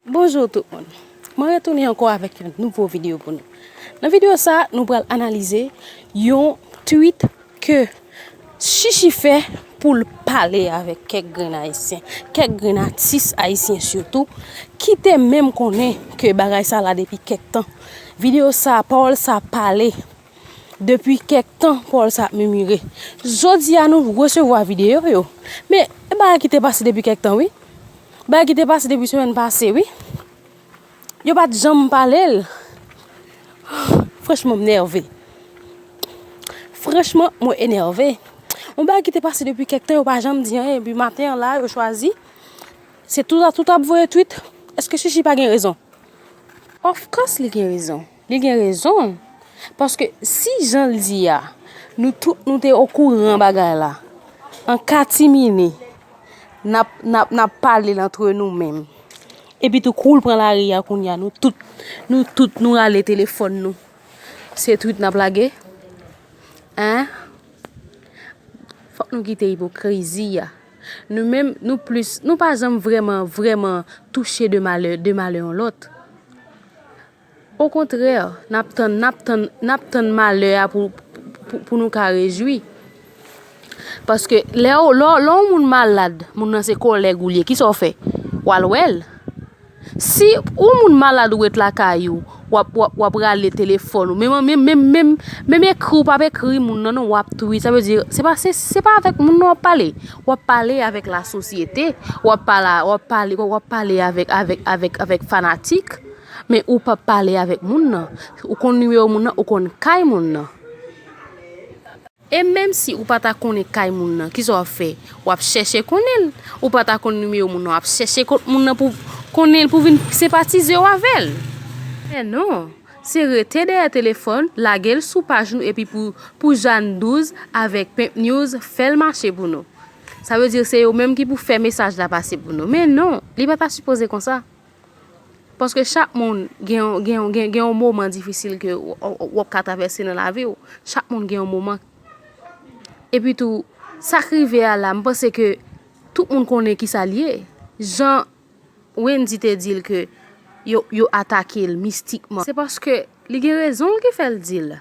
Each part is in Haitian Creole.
Bonjour tout moun, mwen retounen ankò avèk yon nouvo video pou nou. Nan video sa, nou pral analize yon tweet ke Chichi fè pou l pale avèk kèk grenn ayisyen, kèk grenn atis ayisyen sitou, ki te menm konnen ke bagay sa la depi kèk tan. Video sa, pawòl sa pale Depi kèk tan Paul sa ap mimire. Jodi a nou resevwa videyo yo. Men, e bagay ki te pase depi kèk tan wi. Bagay ki te pase depi semèn pase wi. Yo pa t janm pale l. Franchman, m nève. Franchman, mwen enève. Yon bagay ki te pase depi kèk tan yo pa janm di anyen. Epi maten an la yo chwazi. Se tout a tout ap voye twit. Eske Chichi pa gen rezon? Of course li gen rezon. Li gen rezon l. Paske si jan l di a, nou tout nou te okouran bagay la, an katimini, n ap pale l antre nou menm. Epitou kou l pran lari a kounye a, nou tout, nou tout nou rale telefòn nou. Se twit n ap lage? An? Fòk nou kite ipokrizi a. Nou menm, nou plis, nou pa janm vreman, vreman touche de malè, de malè yon lòt. Okontrè, n ap tann, n ap tann, n ap tann malè a pou nou ka rejwi. Paske, lè yon moun malad, moun nan se kòlèg ou l ye, ki sa w fè? W al wè l. Si yon moun malad ou ret lakay ou, w ap, w ap, w ap rale telefòn ou, menm, menm, menm, menm, menm ekri w pa p ekri moun nan non, w ap tweet, sa vle di, se pa, se pa avèk moun nan w ap pale. W ap pale avèk lasosyete, w ap pale, w ap pale, w ap pale avèk, avèk, avèk, avèk fanatik. Men ou pap pale avek moun nan. Ou konn nimewo moun nan, ou konn kay moun nan. E menm si ou pa ta konnen kay moun nan, kisa wap fè? Wap chèche konnen l. Ou pa ta konn nimewo moun nan, wap chèche kont moun nan pou konnen l, pou vin senpatize w avè l. Men non, se rete dèyè telefòn, lage l sou paj nou epi pou pou Jane 12 avèk Pimpnews fè l mache pou nou. Sa vle di se yo menm ki pou fè mesaj la pase pou nou. Men non, li pa ta sipoze konsa. Paske chak moun gen yon moman difisil ke w ap ka travèse nan lavi w. Chak moun gen yon moman. E pi tou, sa k rive a la, m panse ke tout moun konnen ki sa l ye. Jan Wendy te di l ke yo atake l mistikman. Se paske li gen rezon l ki fè l di l.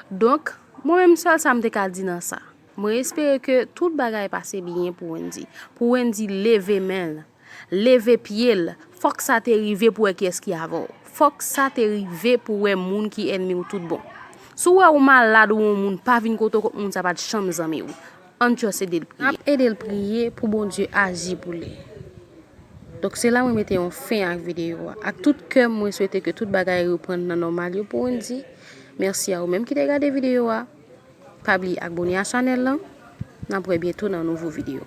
Donk, mwen menm sèl sa m te ka di nan sa. Mwen espere ke tout bagay pase byen pou Wendy. Pou Wendy leve men l. Leve pye l. Fòk sa te rive pou wè kiyès ki avan w. Fòk sa te rive pou wè moun ki ènmi w tout bon. Si w wè ou malad ou yon moun pa vin kote w kont moun sa pa t janm zanmi w. Ann just ede l priye. Nap ede l priye pou Bondye aji pou li. Donk se la mwen mete yon fen ak videyo a. Ak tout kè m mwen swete ke tout bagay reprann nan nòmal yo pou ann di mèsi a ou menm ki te gade videyo a. Pa bliye abone a chanèl lan. Nap wè byento nan nouvo videyo.